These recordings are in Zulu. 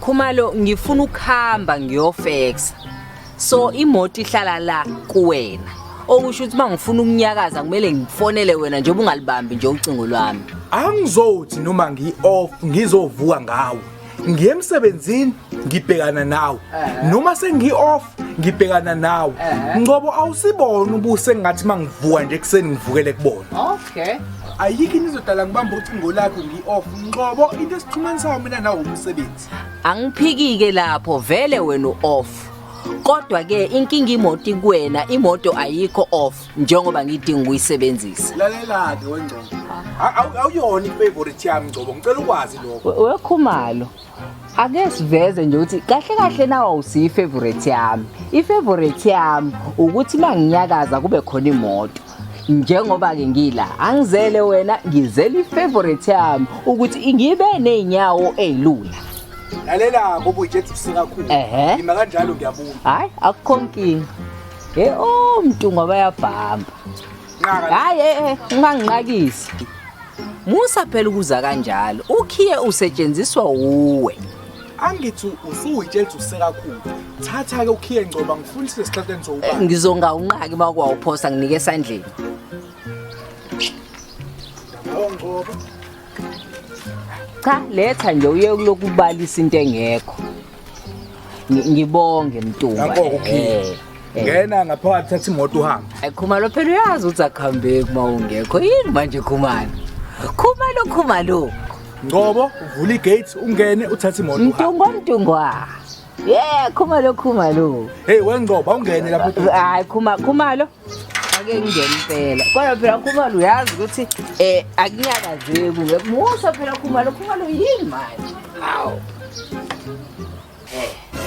Khumalo ngifuna ukuhamba ngiyofexa. So imoto ihlala la kuwena. Okusho ukuthi mangifuna ukunyakaza kumele ngifonele wena njengoba ungalibambi nje ucingo lwami. Angizothi noma ngi off ngizovuka ngawo. Ngiye emsebenzini ngibhekana nawe. Noma sengi off ngibhekana nawe ngoba awusibona ubuse ngathi mangivuka nje kuseni ngivukele kubona okay ayikho into izodala ngibamba ucingo lakho ngi-off nqobo into esixhumanisayo mina nawo umsebenzi angiphikike lapho vele wena u-off kodwa ke inkinga imoto kuwena imoto ayikho off njengoba ngidinga ukuyisebenzisa lalela-ke wengcobo awuyona ifavorite yami ngcobo ngicela ukwazi lokho wekhumalo ake siveze nje ukuthi kahle kahle nawa usiyi favorite yami i favorite yami ukuthi manginyakaza kube khona imoto njengoba ke ngila angizele wena ngizele ifavorite yami ukuthi ngibe nezinyawo ezilula lalela ngoba ujethi sikakhulu ngima kanjalo ngiyabuza hayi akukho nkingi hey oh mntu ngoba yabhamba hayi eh, eh, unganginqakisi Musa phela ukuza kanjalo. Ukhiye usetshenziswa wuwe. angithi usuyitshela ukuthi usekakhulu thatha-ke ukhiye ngcoba ngifundise esihlahleni sowubaba Ngizonga unqaki uma kwawuphosa nginike esandleni. ngcoba Cha, letha nje uye kulokhu ubalisa into engekho. Ngi- ngibonge mntungwa Nanko ukuphila. Eh, eh. ngena ngaphakathi thatha imoto uhambe Ay, khumalo phela uyazi ukuthi akuhambeki uma ungekho yini manje khumalo khumalo khumalo ngobo uvula igate ungene uthathe imoto uhambe mntungwa mntungwa ye khumalo khumalo heyi wengcobo awungene lapho hayi khumalo ake ngingene impela kodwa phela khumalo uyazi ukuthi um akunyakazeki musa phela khumalo khumalo yini manje awu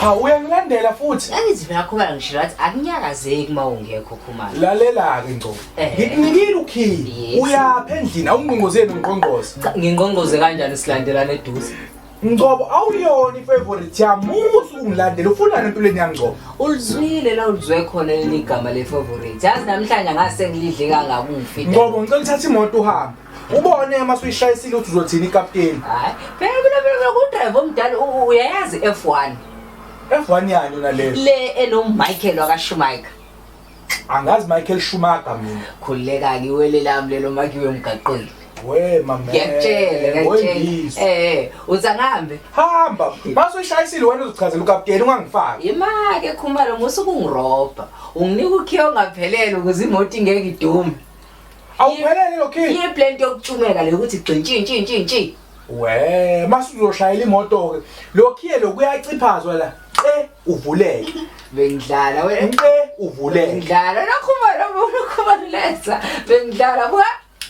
ha uyangilandela futhi angithi phela khumalo ngisho wathi akunyakazeki uma ungekho khumalo lalela-ke ngco eh. ngikunikile ukhili uyapha endlini awungqongqozeli ngqongqoze ngingqongqoze kanjani silandelana eduze Ngcobo awuyona ifavorite yami musu ungilandela ufunani empilweni yami Ngcobo ulizwile la ulizwe khona leli gama le favorite yazi namhlanje ngase ngilidle kangaka ungifi Ngcobo ngicela uthathe imoto uhambe ubone uma suyishayisile ukuthi uzothini ikapteni hayi phela mina mina ngudrive omdala u- uyayazi F1 F1 yani yona leyo le enommichael wakashumaker angazi Michael Schumacher mina khuleka ke wele lami lelo makiwe emgaqweni we mama ngiyakutshela ngiyakutshela eh uza ngambe hamba base ushayisile wena uzichazela ukapteni ungangifaki imake khumalo musuku ngiroba unginika ukhiyo ngaphelele ukuze imoto ingeke idume awuphelele lokhiyo iye blend yokutshumeka le ukuthi gxintshi ntshi ntshi ntshi Wee, mase uzoshayela imoto-ke. Lokhiye lokuyaciphazwa la. Ce uvuleke. Bengidlala wena. Ce uvuleke. Ngidlala nokhuma lo nokhuma lesa. Bengidlala buka.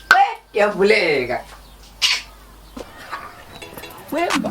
Qe yavuleka. Wemba.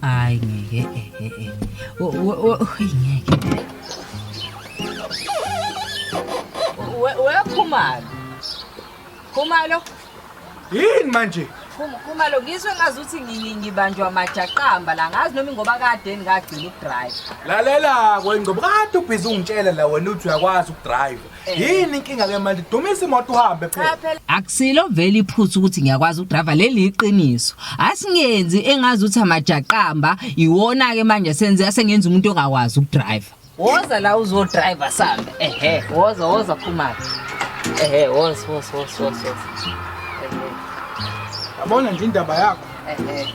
Hayi ngeke eh eh eh. Wo- wo- wo- Hayi ngeke. We- we Khumalo. Khumalo, Yini manje? Khum- Khumalo ngizwe ngazuthi ngi- ngibanjwa majaqamba la ngazi noma ingoba kade ngagcina ukudrive. Lalela kwengcobo kade ubhizi ungitshela la wena uthi uyakwazi ukudrive. yini inkinga ke manje dumisa imoto uhambe phela akusilo vele iphutha ukuthi ngiyakwazi ukudriva leli iqiniso asingenzi engazi ukuthi amajaqamba iwona ke manje senze asengenza umuntu ongakwazi ukudriva woza la uzodriva sambe ehe woza woza phuma ehe woza woza woza woza yabona nje indaba yakho ehe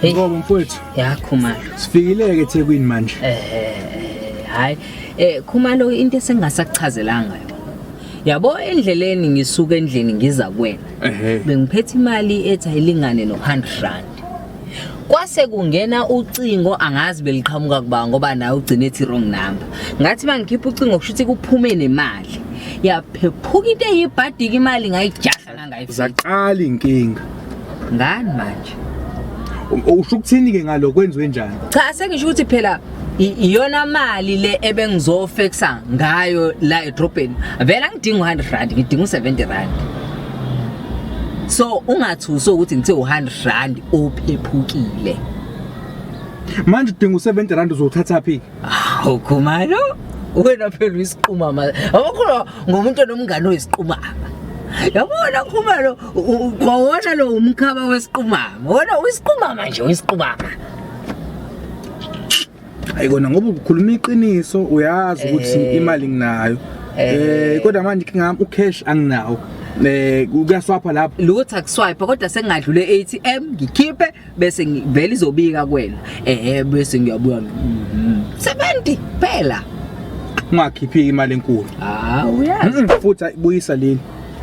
Hey. Ngoba mfowethu. Ya Khumalo. Sifikile ke eThekwini manje. Eh hayi eh Khumalo into esengasakuchazelanga yona. Yabo endleleni ngisuka endlini ngiza kuwena. Bengiphethe imali ethi ayilingane no 100 rand. Kwase kungena ucingo angazi beliqhamuka kuba ngoba naye ugcine ethi wrong number. Ngathi mangikhipha ucingo kushuthi kuphume nemali. Yaphephuka into eyibhadika imali ngayijaha zaqala inkinga ngani manje usho ukuthini ke ngalo kwenziwe njani cha sengisho ukuthi phela iyona mali le ebengizofexa ngayo la edrobheni vele angidingi 100 rand ngidinga 70 rand so ungathuso ukuthi ngithe 100 rand ophephukile manje udinga u70 rand uzothatha phi Awu khumalo wena phela uyisiquma manje. Awukho ngomuntu onomngane oyisiqumama. Yabona khumalo kwawona lo umkhaba wesiqumama. Wona uyisiqumama nje uyisiqumama. Ayikona ngoba ukhuluma iqiniso uyazi ukuthi Eh. imali nginayo. Eh. Eh kodwa manje ngingam ucash anginawo. Eh kuyaswapha lapho. Lutho akuswipe kodwa sengadlule ATM ngikhiphe bese ngivele izobika kwena ehe bese ngiyabuya mm, 70 phela ungakhiphi imali enkulu ah uyazi Mm, futhi ayibuyisa leli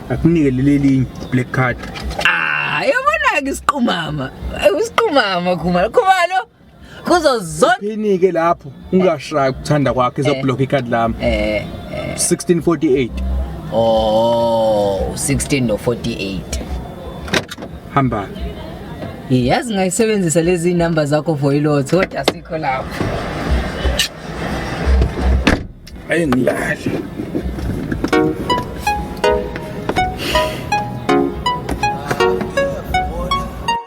akunike leli linye black card ah yabona ke isiqumama Eh, isiqumama khumalo khumalo kuzo zonke phinike lapho ungashayi ukuthanda kwakhe Eh. izoblock icard lami eh 1648 oh 16 no 48 hamba yazi ngayisebenzisa lezi number zakho for ilot kodwa sikho lapho ayi ngilale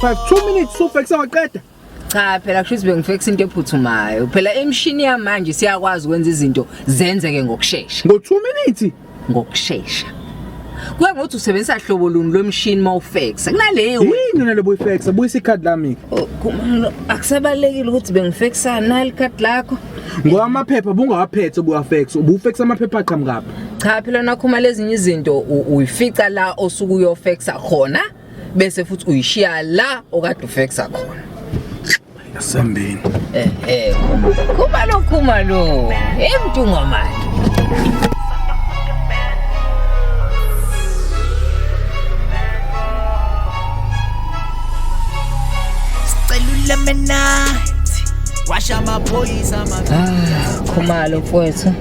Five, two minutes sufekisa waqeda cha phela kusho ukuthi bengifekisa into ephuthumayo phela imishini yamanje siyakwazi ukwenza izinto zenzeke ngokushesha ngo 2 minutes ngokushesha kuye ngokuthi usebenzisa hlobo luni lomshini uma ufexa kunaleyo yini nale boyfexa buyisa ikhadi lami oh, akusabalekile ukuthi bengifexa nali ikhadi lakho ngoba amaphepha bungawaphethe ubuwafex ubufex amaphepha aqhamukaphi cha phela nakhuma lezinye izinto uyifica la osuke uyofexa khona bese futhi uyishiya la okade ufexa khona asambeni eh eh kuma lo kuma lo emntungwa manje Celula menathi washa amaphoyisa Ah, khumalo mfowethu.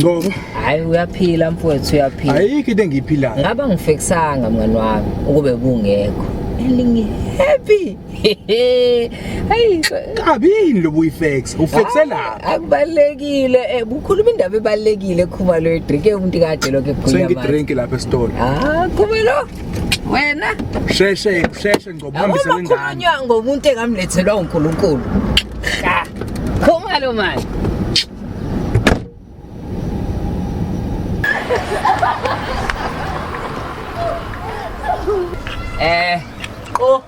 Ngoba Hayi uyaphila mfowethu uyaphila. ayikho into engiyiphilayo. Ngaba ngifekisanga mngani wami ukube kungekho. Elingi happy. Hayi Kabi yini lo buyifex? Ufexe la. Akubalekile eh kukhuluma indaba ebalekile khumalo edrink umuntu kade lokho ekhuluma. Sengi drink lapha esitolo. Ah, khumalo. wena sheshe sheshe ngoba uhambise lengane ukhulunywa ngomuntu engamlethelwa uNkulunkulu cha khoma lo mali eh qo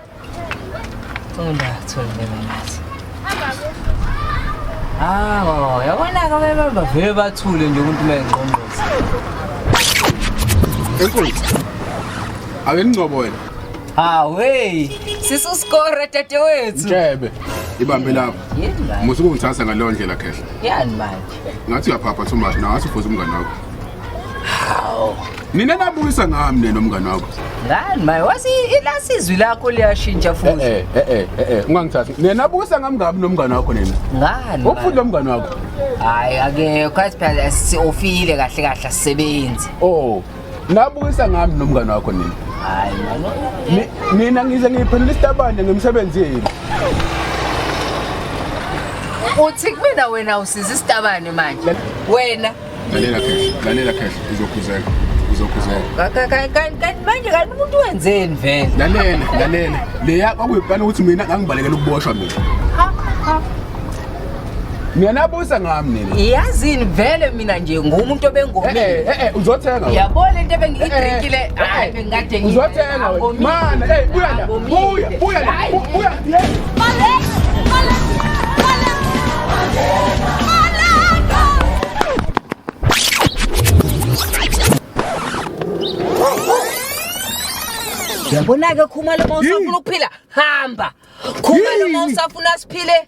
Thula, thula bebanathi. Hawo, yabona-ke bebe bavele bathule nje umuntu uma engqongqoza. Enkulu. Ake ngcobo wena. Hawe, sisuskore dadewethu. Jebe. Ibambe lapho. Yini manje? Musuku ngithatha ngaleyo ndlela khehla. Yani manje. ngathi uyaphapha too much nawe athi ufoza umngane wakho hawu nina nabukisa ngami nena umngane wakho ngani maye wasi ilasi izwi lakho liyashintsha futhi eh eh eh eh, eh ungangithathi nina nabukisa ngami ngami nomngane wakho nina ngani ukufuthi lo mngane wakho hayi akekho asiphela siofile kahle kahle asisebenzi oh Nabukisa ngami nomngane wakho nini? Hayi mama. Mina ngize ngiphendula isitabane ngemisebenzi yenu. Uthi kumina wena usiza isitabane manje. Wena. Lalela khehla, lalela khehla uzokhuzeka. Uzokhuzeka. Kanti manje kanti umuntu wenzeni vele? Lalela, lalela. Leya kwakuyiplana ukuthi mina ngangibalekela ukuboshwa mina. Ha ha. Ngiyanabusa ngami nina. Yazini vele mina nje ngumuntu obengomile. Eh eh, eh eh uzothenga. Yabo lento ebengiyidrinkile eh, eh, hayi bengikade ngiyi. Uzothenga wena. Mana hey buya la. Buya buya la. Buya. Male. Male. Male. Yabona ke khumalo mawusafuna ukuphila hamba. Khumalo mawusafuna siphile